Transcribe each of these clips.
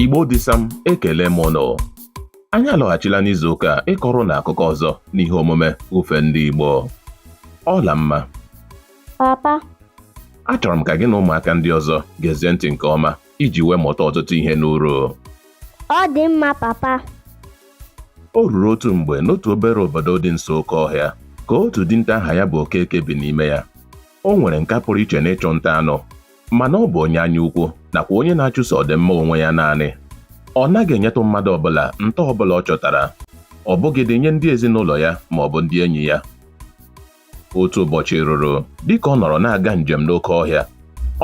Igbo dịsa m ekele m ụnụ anyị alọghachila n'izu ụka a ịkọrọ ụnụ akụkọ ọzọ n'ihe omume ifo ndị Igbo Ọlamma papa achọrọ m ka gị na ụmụaka ndị ọzọ gezie ntị nke ọma iji wee mụta ọtụtụ ihe n'uru ọ dị mma papa o ruru otu mgbe n'otu obere obodo dị nso oke ọhịa ka otu dinta aha ya bụ Okeke bi n'ime ya o nwere nka pụrụ iche n'ịchụ nta anụ mana ọ bụ onye anya ukwu nakwa onye na-achụso ọdịmma onwe ya naanị. Ọ naghị enyetụ mmadụ ọbụla nta ọbụla ọ chọtara, ọ bụghịdị nye ndị ezinụlọ ya ma ọ bụ ndị enyi ya. Otu ụbọchị ruru, dịka ọ nọrọ na-aga njem n'oke ọhịa,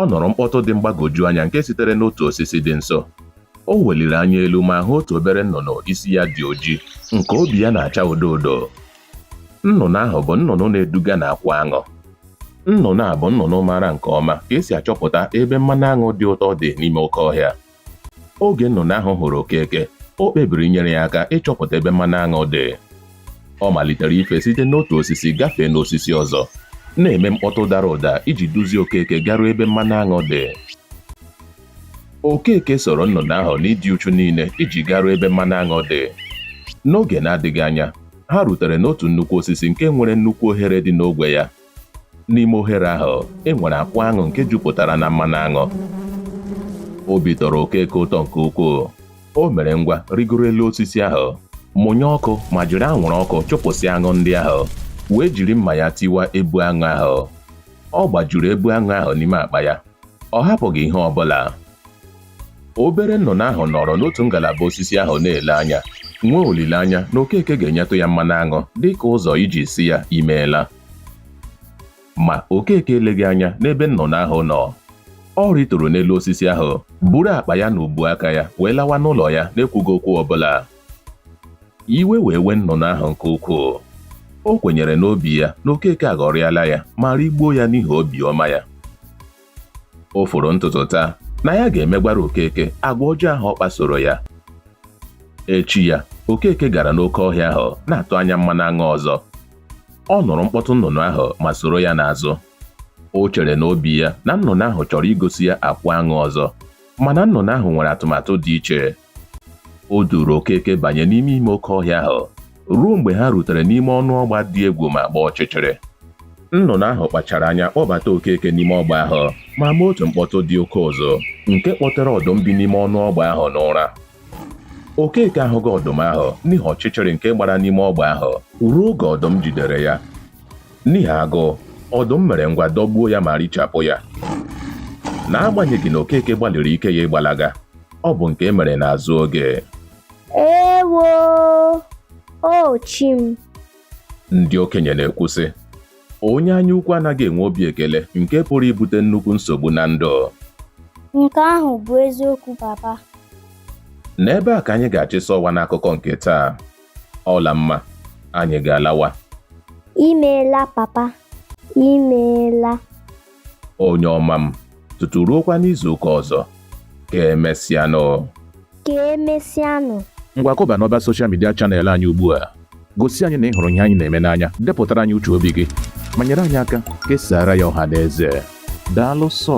ọ nụrụ mkpọtụ dị mgbagwoju anya nke sitere n'otu osisi dị nso. O weliri anya elu ma hụ otu obere nnụnụ isi ya dị oji, nke obi ya na-acha odo odo, Nnụnụ ahụ bụ nnụnụ na-eduga n'akwụ aṅụ. Nnụnụ a bụ nnụnụ maara nke ọma ka e si achọpụta ebe mmanụ aṅụ dị ụtọ dị n'ime oke ọhịa. Oge nnụnụ ahụ hụrụ Okeke, o kpebiri inyere ya aka ịchọpụta ebe mmanụ aṅụ dị. Ọ malitere ife site n'otu osisi gafee n'osisi ọzọ, na-eme mkpọtụ dara ụda iji duzie Okeke garuo ebe mmanụ aṅụ dị. Okeke soro nnụnụ ahụ n'ịdị uchu niile iji garuo ebe mmanụ aṅụ dị. N'oge na-adịghị anya, ha rutere n'otu nnukwu osisi nke nwere nnukwu ohere dị n'ogwe ya. N'ime ohere ahụ, e nwere akwụ aṅụ nke jupụtara na mmanụ aṅụ. Obi tọrọ Okeke ụtọ nke ukwuu. O mere ngwa rịgoro elu osisi ahụ, mụnye ọkụ ma jiri anwụrụ ọkụ chụpụsịa aṅụ ndị ahụ, wee jiri mma ya tiwa ebu aṅụ ahụ. Ọ gbajuru ebu aṅụ ahụ n'ime akpa ya Ọ hapụghị ihe ọ bụla. Obere nnụnụ ahụ nọrọ n'otu ngalaba osisi ahụ na-ele anya, nwee olileanya na Okeke ga-enyetụ ya mmanụ aṅụ dị ka ụzọ iji sị ya imeela. Ma Okeke eleghị anya n'ebe nnụnụ ahụ nọ. Ọ rịturu n'elu osisi ahụ, buru akpa ya n'ubu aka ya wee lawa n'ụlọ ya n'ekwughị okwu ọ bụla. iwe wee wee nnụnụ ahụ nke ukwuu o kwenyere n'obi ya na okeke aghọrịala ya ma rigbuo ya n'ihi obiọma ya o foro ntutu taa na ya ga-emegwara okeke agwa ọjọọ ahụ ọ kpasoro ya echi ya okeke gara n'oke ọhịa ahụ na-atụ anya mmanụ aṅụ ọzọ ọ nụrụ mkpọtụ nnụnụ ahụ ma soro ya n'azụ o chere n'obi ya na nnụnụ ahụ chọrọ igosi ya akwụ aṅụ ọzọ mana nnụnụ ahụ nwere atụmatụ dị iche o duuru okeke banye n'ime ime oke ọhịa ahụ ruo mgbe ha rutere n'ime ọnụ ọgba dị egwu ma gbaa ọchịchịrị nnụnụ ahụ kpachara anya kpọbata okeke n'ime ọgba ahụ ma mee otu mkpọtụ dị oke ụzụ nke kpọtere ọdụm bi n'ime ọnụ ọgba ahụ n'ụra okeke ahụghị ọdụm ahụ n'ihi ọchịchịrị nke gbara n'ime ọgba ahụ ruo oge ọdụm jidere ya N'ihi agụụ, ọdụm mere ngwa dọgbuo ya ma richapụ ya. N'agbanyeghị na Okeke gbalịrị ike ya ịgbalaga, ọ bụ nke e mere n'azụ oge. Ewo! O chi m! Ndị okenye na-ekwu sị, onye anya ukwu anaghị enwe obi ekele nke pụrụ ibute nnukwu nsogbu na ndụ. Nke ahụ bụ eziokwu papa. N'ebe a ka anyị ga-achịsa ọwa n'akụkọ nke taa. ọlamma anyị ga-alawa imeela papa imeela onye ọma m tutu ruokwa n'izu ụka ọzọ ka emesịanụ ka emesịanụ ngwa kụba n'ọba soshal midia chanel anyị ugbu a gosi anyị na ị hụrụ ihe anyị na-eme n'anya depụtara anyị uche obi gị ma nyere anyị aka kesara ya ọha na eze daalụ sọ